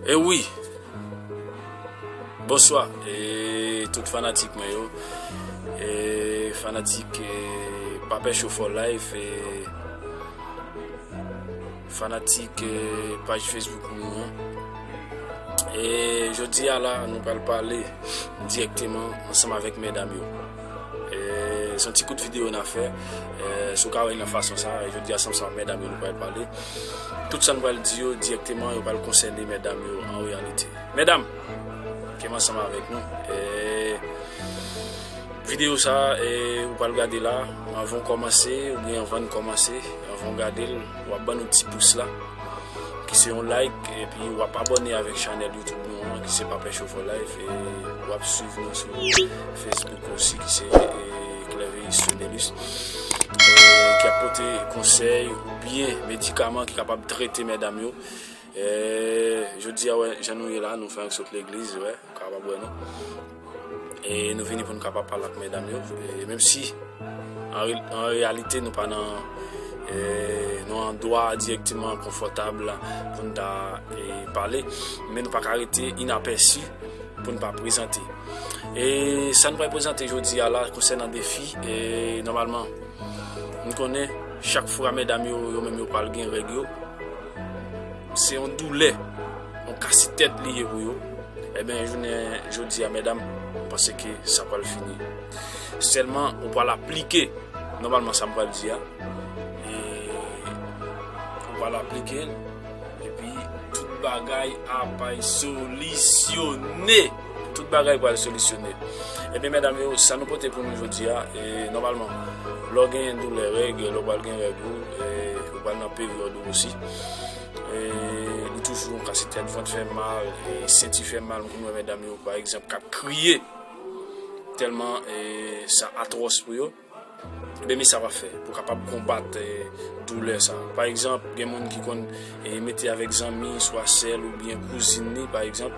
E eh wi, bonswa, e eh, tout fanatik mwen yo, e eh, fanatik e Pape Show for Life, e fanatik e paj Facebook mwen yo. E jodi a la, nou pral pale direkteman ansanm avèk mèdam yo. Son ti kout video na fè Si w ka wè l nan fason sa Jodi a san sa medam yo nou pral pale Tout sa nou pral di yo direkteman yo pral konsène medam yo an reyalite Medam Ke m ansanm avèk nou Video sa ou pral gade la Anvan w kòmanse oubyen anvan n kòmanse Anvan w gade l Wap ban nou ti pous la ki se yon like epi wap abone avèk chanèl YouTube nou an ki se Papè Chofè Life e wap swiv nou sou Facebook osi ki se Clerveis Fidelus ki ap pote konsèy ou byen medikaman ki kapab trete medam yo. Eeh jodi a wè jan nou ye la nou fè ank sot legliz wè ou kapab wè nou e nou vini pou nou kapab pale ak medam yo e menm si an reyalite nou pa nan e nou an dwa direkteman konfòtab pou nou ta pale men nou pa ka rete inapèsi pou nou pa prezante e sa nou pral prezante jodi a la konsènan defi e nòmalman nou konnen chak fwa medam yo yo menm yo pral gen règ yo. Se yon doulè, yon kasi tèt li ye pou yo. Eben jounen jodi a medam, m panse ke sa pral fini. Sèlman ou pral aplike nòmalman sa m pral di a. E ou pral aplike l epi tout bagay ap solisyonnen. Tout bagay pral solisyone. Ebyen medam yo, sa nou pote pou nou jodi a, e nòmalman lò gen doulè règ, lò pral gen règ ou, e ou pral nan peryòd ou osi. E ou toujou ka se tèt, vant fè mal, e senti fè mal, m konn wè medam yo pa egzanp kap kriye tèlman e sa atwòs pou yo. Ebyen sa wap fè pou kapab konbat doulè sa. Pa egzanp gen moun ki konn mete avèk zanmi swa sèl oubyen kouzin li pa egzanp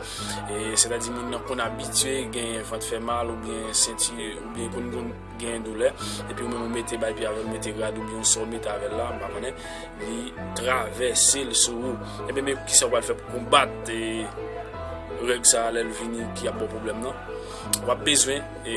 e sètadi moun nan konn abitye gen vant fè mal oubyen senti oubyen konn konn gen doulè epi ou menm ou mete bay pi avèl mete rad oubyen sa ou mete avèl la m pa konnen li travèse l sou ou ebyen men kisa ou pral fè pou konbat règ sa lèl vini ki ap baw pwoblèm nan wap bezwen e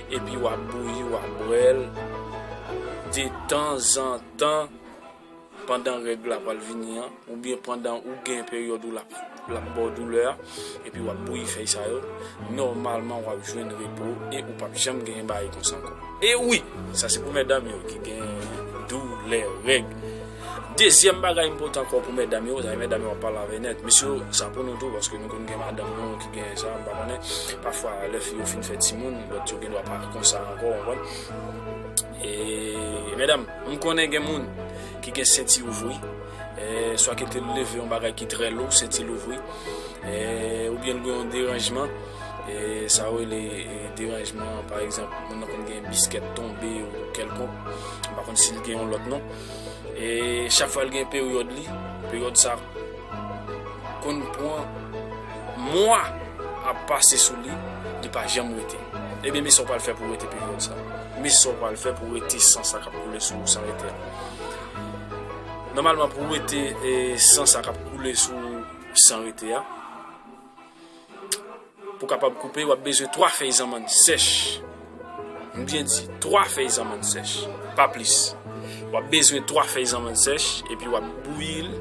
Epi wap bouyi wap bwèl de tan zan tan pandan règ la pral vini an oubyen pandan ou gen peryòd ou lap lap baw doulè a epi wap bouyi fèy sa yo nòmalman wap jwenn repo e ou pap janm genyen bagay konsa ankò. E wi! Sa se pou mètdam yo ki gen doulè règ. Dezyèm bagay m pote ankò pou mètdam yo, zanmi mètdam yo ap pale avè nèt. Mesye yo, sa pou nou tou, paske nou konn gen madanm nou ki gen sa, m pa konnen. Pafwa lè fi yo fin fè timoun, lòt yo gendwa pa konsa ankò, ou konprann. E, mètdam, m konnen gen moun ki gen senti ouvri, swa ke te leve yon bagay ki trè lou, senti l ouvri, oubyen l gen yon deranjman, sa yo rele deranjman, pa egzanp, moun nan konn gen biskèt tonbe ou kèlkonk, m pa konn si l gen yon lòt non. E chak fwa l gen peryòd li, peryòd sa konn pran mwa ap pase sou li, li pa janm rete. Ebyen men sa w pral fè pou w rete peryòd sa. Men sa w pral fè pou w rete san sa k ap koule sou ou san rete a. Nòmalman pou w rete san sa k ap koule sou ou san rete a. Pou kapab koupe, wap bezwen 3 fèy zanmann sèch. M byen di, 3 fèy zanmann sèch, pa plis. Wap bezwen 3 fèy zanmann sèch, epi wap bouyi l.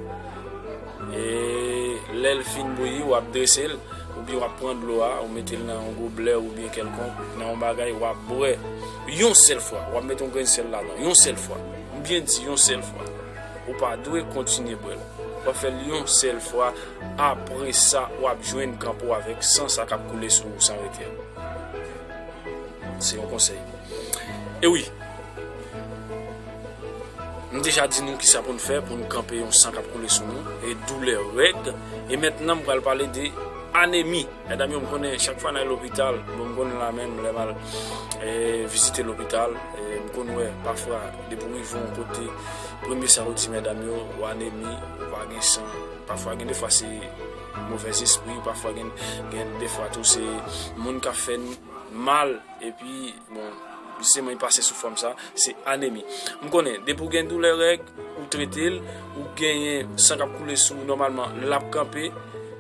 E lè l fin bouyi, wap drese l. Ou byen wap pran dlo a, ou mete l nan yon goblè ou byen kèlkonk, nan yon bagay, wap bwè. Yon sèl fwa, wap mete yon grenn sèl ladan. Yon sèl fwa. M byen di, yon sèl fwa. Ou pa dwe kontinye bwè l. Wap fè l yon sèl fwa. Apre sa, w ap jwenn kan pou w avèk san sa k ap koule sou ou san rete a. Se yon konsèy. E wi, m deja di nou ki sa pou n fè pou n kanpe yon san k ap koule sou nou, e doulè règ. E mentnan m pral pale de anemi. Medam yo, m konnen chak fwa n al lopital, bon m konnen la menm lè m al vizite lopital, m konn wè pafwa depi w rive yon kote, premye sa yo di medam yo, ou anemi, ou pa gen san. Pafwa gen defwa se movè zespri pafwa gen gen defwa tou se moun kap fè n mal epi bon jisteman li pase sou fòm sa se anemi m konnen depi w gen doulè règ ou trete l ou genyen san kap koule sou ou nòmalman lap kanpe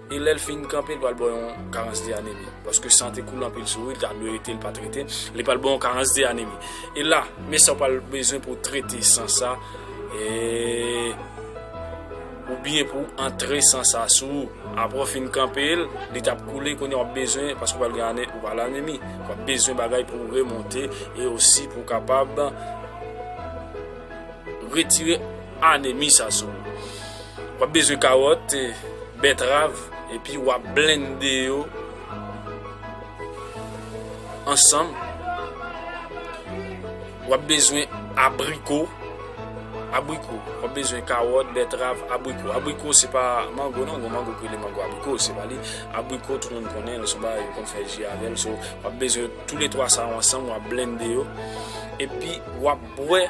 e lè l fin kanpe l pral ba w yon karans de anemi paske san te koule anpil sou ou li ta dwe rete l pa trete li pral ba w yon karans de anemi e la men sa w pral bezwen pou w trete san sa eee. Ou byen pou w antre san sa sou ou. Apre w fin kanpe l, li t ap koule, kounye a w ap bezwen, paske w pral gen ane, ou pral anemi, w ap bezwen bagay pou w remonte e osi pou w kapab retire anemi sa sou ou. W ap bezwen kawòt, bètrav, epi w ap blende yo ansanm. Wap bezwen abriko, abriko, wap bezwen kawòt, bètrav, abriko. Abriko se pa mango non, gon mango ki rele mango abriko, se pa li. Abriko tout moun konnen, lè son ba yo konn fè ji avèl. So, wap bezwen tou le 3 sa yo ansanm, wap blende yo. Epi wap bwè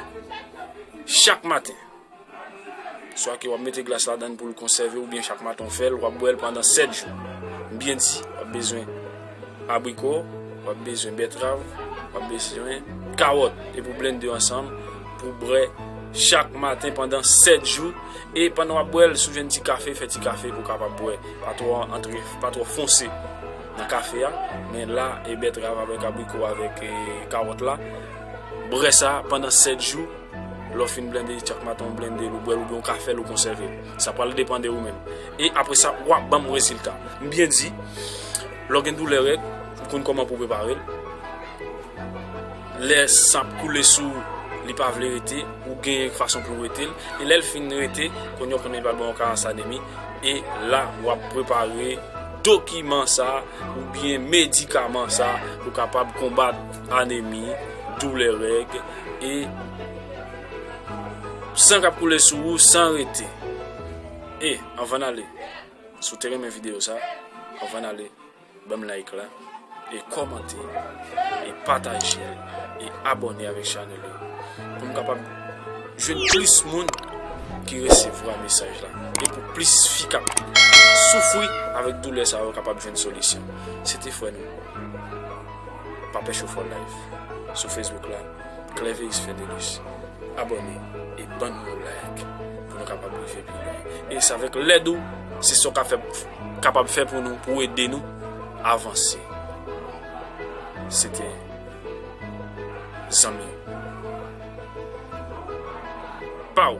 chak maten. Swa ke wap mete glas ladan pou l konsève oubyen chak maten w fè l, wap bwè l pandan 7 jou. M byen di, wap bezwen abriko, wap bezwen bètrav, wap bezwen kawòt epi w blennde yo ansanm pou w bwè chak maten pandan 7 jou e pandan wap bwè l si w jwenn ti kafe, fè ti kafe pou w kapab bwè, pa twò antre, pa twò fonse nan kafe a, men la e bètrav avèk abriko avèk kawòt la, bwè sa pandan 7 jou. Lè w fin blende chak maten ou blende l ou bwè l oubyen ou ka fè l ou konsève l. Sa pral depan de ou menm. E apre sa w ap ban m rezilta. M byen di, lè w gen doulè règ, ou konn kòman pou w prepare l. Lè san ap koule sou ou, li pa vle rete, ou gen fason pou w wete l. E lè l fin rete, kounye a w konnen li pral ban w karans anemi. E la w ap prepare dokiman sa oubyen medikaman sa pou w kapab konbat anemi, doulè règ. E San kap koule sou ou san rete E anvan nale Si w te renmen video sa Anvan nale Banm like la E komante E pataje E abone avek chanel la Poum kapab Jwenn plis moun Ki resevwa mesaj la E pou plis fi kap Soufri avek doulè sa yo kapab jwenn solisyon Se te fre nou Pa pè chofè w live sou Facebook la Clerveis Ferdelus abòne e bann yon like pou nou kapab rive pi lwen e se avèk lèd ou se sa w ka fè kapab fè pou nou pou w ede nou avanse se te zanmi ou pa w.